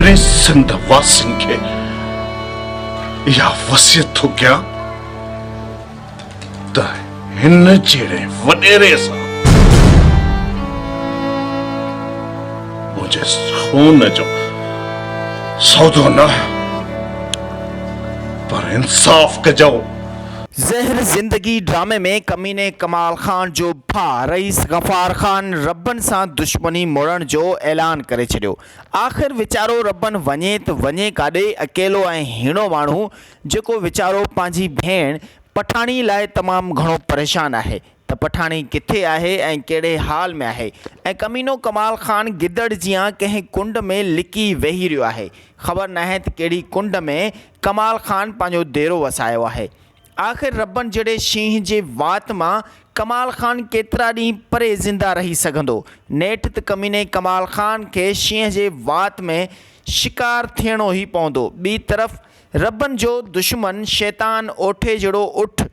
ٽي سنڌ واسين کي اها وصيت ٿو ڪيان ته هن جهڙي وڏيري سان منهنجي خون جو سودو نه پر انصاف ڪجو زهر زندگي ڊرامي ۾ ڪميني ڪمال خان جو ڀاء رئيس غفار خان ربن سان دشمني موڙڻ جو اعلان ڪري ڇڏيو آخر ويچارو ربن وڃي ته وڃي ڪاڏي؟ اڪيلو ۽ هيڻو ماڻهو جيڪو ويچارو پنهنجي ڀيڻ پٺاڻي لاء تمام گهڻو پريشان آهي ته پٺاڻي ڪٿي آهي ۽ ڪهڙي حال ۾ آهي ۽ ڪمينو ڪمال خان گدڙ جيان ڪنهن ڪنڊ ۾ لڪي ويهي رهيو آهي خبر ناهي ته ڪهڙي ڪنڊ ۾ ڪمال خان پنهنجو ديرو وسايو آهي آخر ربن جهڙي شينهن جي وات مان ڪمال خان ڪيترا ڏينهن پري زنده رهي سگهندو. نيٺ ته ڪميني ڪمال خان کي شينهن جي وات ۾ شڪار ٿيڻو ئي پوندو. ٻي طرف ربن جو دشمن شيطان اوٺي جهڙو اٺ،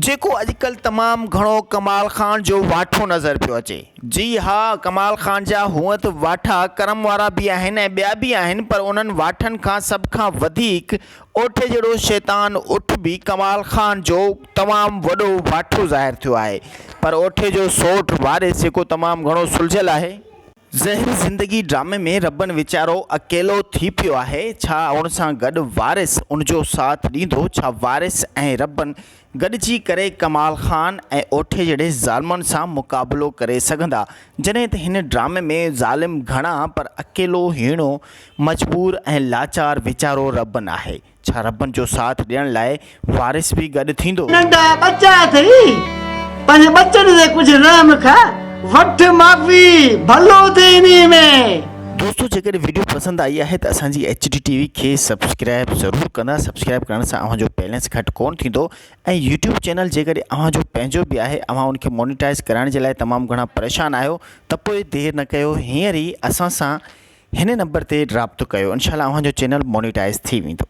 جيڪو اڄڪلهه تمام گهڻو ڪمال خان جو واٺو نظر پيو اچي جي ها ڪمال خان جا هونئن ته واٺا ڪرم وارا به آهن ۽ ٻيا به آهن پر انهن واٺن کان سڀ کان وڌيڪ اوٺي جهڙو شيطان اٺ به ڪمال خان جو تمام وڏو واٺو ظاهر ٿيو آهي پر اوٺي جو سوٽ واري سيڪو تمام گهڻو سلجهيل آهي. زهر زندگي ڊرامي ۾ ربن ويچارو اڪيلو ٿي پيو آهي ڇا ان سان گڏ وارث ان جو ساٿ ڏيندو ڇا وارث ۽ ربن گڏجي ڪري ڪمال خان ۽ اوٺي جهڙي ظالمن سان مقابلو ڪري سگهندا، جڏهن ته هن ڊرامي ۾ ظالم گهڻا پر اڪيلو هيڻو مجبور ۽ لاچار ويچارو ربن آهي، ڇا ربن جو ساٿ ڏيڻ لاء وارث به گڏ ٿيندو؟ ننڍا ٻچا اٿئي پنهنجي ٻچن جي ڪجهه رحم کان وٺ معافي ڀلو ٿئي انهي ۾. دوستو جيڪڏهن ويڊيو پسند آئي آهي ته اسان جي ايڇ ڊي ٽي وي کي سبسڪرائب ضرور ڪندا سبسڪرائب ڪرڻ سان اوهان جو بيلنس گهٽ ڪون ٿيندو ۽ يوٽيوب چينل جيڪڏهن اوهان جو پنهنجو به آهي اوهان ان کي مونيٽائز ڪرائڻ جي لاء تمام گهڻا پريشان آهيو ته پوء دير نه ڪيو هينئر ئي اسان سان هن نمبر تي رابطو ڪيو انشاء الله اوهان جو چينل مونيٽائز ٿي ويندو